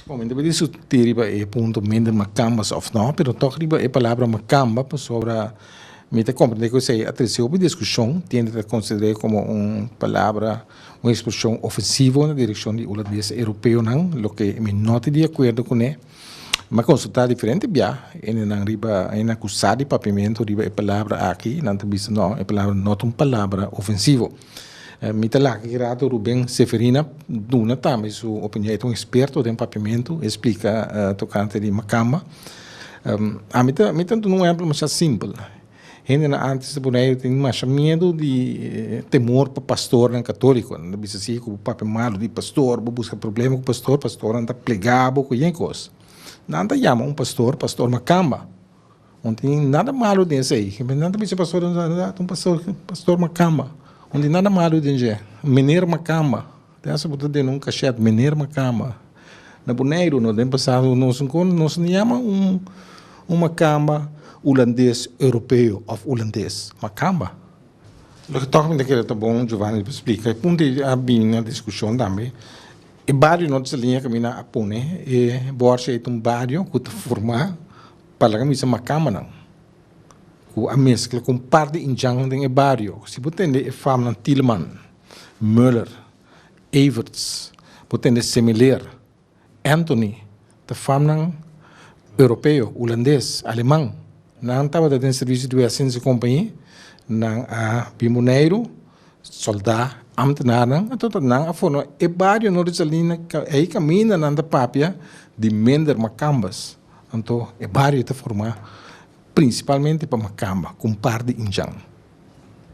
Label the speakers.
Speaker 1: Bon, mi ta pidi diskuti riba e punto minder makambas òf nò, pero tòg riba e palabra makamba pasobra mi ta komprendé ku esei a trese hopi diskushon, tende ta konsider'é komo un palabra, un ekspreshon ofensivo na direkshon di hulandes i europeonan, loke mi no ta di akuerdo kuné. Mi a konsultá diferente biaha hendenan riba, hendenan ku sa di papiamentu riba e palabra aki, nan ta bisa nò e palabra no ta un palabra ofensivo. Mi ta lak e rato Ruben Seferina duna tambe su opinion. E ta un experto den papiamentu, e splika tokante di makamba. Ami ta mi ta duna un ehempel masha simpel. Hendenan antes ta pone ei tin masha miedu di temor pa pastornan katolikonan. Ta bisa si ku bo papia malu di pastor, bo buska problema ku pastor, pastornan ta plegabo, kuye kos. Nan ta yama un pastor, pastor makamba. No tin nada malu den esei. Nan ta bisa pastor, ta un pastor, pastor Makamba. No tin nada malu den dje. Meneer Makamba. Te hasta bo ta duna un kashet, Meneer Makamba. Na Boneiru nos den pasado nos kon nos a yama un un Makamba Ulandes Europeo of Ulandes. Makamba. Loke tok mi ta kere ta bon Jovani pa splika e punto ei a bini na diskushon tambe. E bario no ta sali a kaminda a pone e bòrsia ei ta un bario ku ta forma. Palabra mi bisa macamanan cu a mezcla cu un par di indjannan den e bario. Si bo tende e famnan Tieleman, Muller, Everts, bo tende Semeleer, Anthony, ta famnan Europeo, Hulandes, Aleman. Nan tabata den servicio di Wessens y Compagnie, nan a bin Boneiru, solda, ambtenarnan, anto ta nan a forma e bario Noordesalina, ca ey caminda nan ta papia di minder macambas. Anto e bario ta formá prinsipalmente pa Makamba ku un par di Injan.